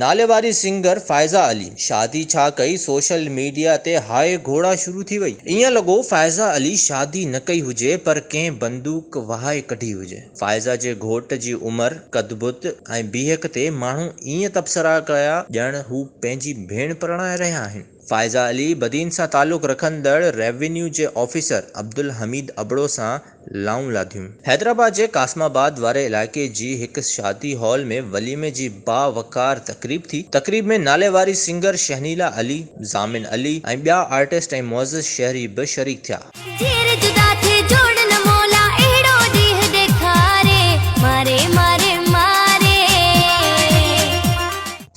ناليواري سنگر فائزه علي شادي ڇا ڪئي سوشل ميڊيا تي هاء گهوڙا شروع ٿي وئي. ايئن لڳو فائزه علي شادي نه ڪئي هجي پر ڪنهن بندوق وهائي ڪڍي هجي. فائزه جي گهوٽ جي عمر، قد بت ۽ بيهڪ تي ماڻهو ائين تبصرا ڪيا ڄڻ هو پنهنجي ڀيڻ پرڻائي رهيا آهن. فائزه علي بدين سان تعلق رکندڙ ريونيو جي آفيسر عبدالحميد ابڙو سان لائون لاڌيون. حيدرآباد جي قاسم آباد واري علائقي جي هڪ شادي هال ۾ وليمي جي باوقار تقريب ٿي. تقريب ۾ ناليواري سنگر شهنيلا علي، ضامن علي ۽ ٻيا آرٽسٽ ۽ معزز شهري به شريڪ ٿيا.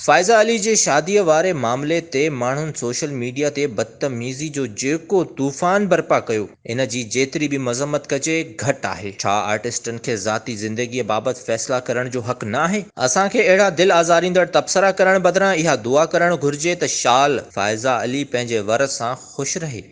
فائزه علي جي شاديء واري معاملي تي ماڻهن سوشل ميڊيا تي بدتميزي جو جيڪو طوفان برپا ڪيو، ان جي جيتري به مذمت ڪجي، گهٽ آهي. ڇا آرٽسٽن کي ذاتي زندگيء بابت فيصلا ڪرڻ جو حق نه آهي؟ اسان کي اهڙا دل آزاريندڙ تبصرا ڪرڻ بدران اها دعا ڪرڻ گهرجي ته شال فائزه علي پنهنجي ور سان خوش رهي.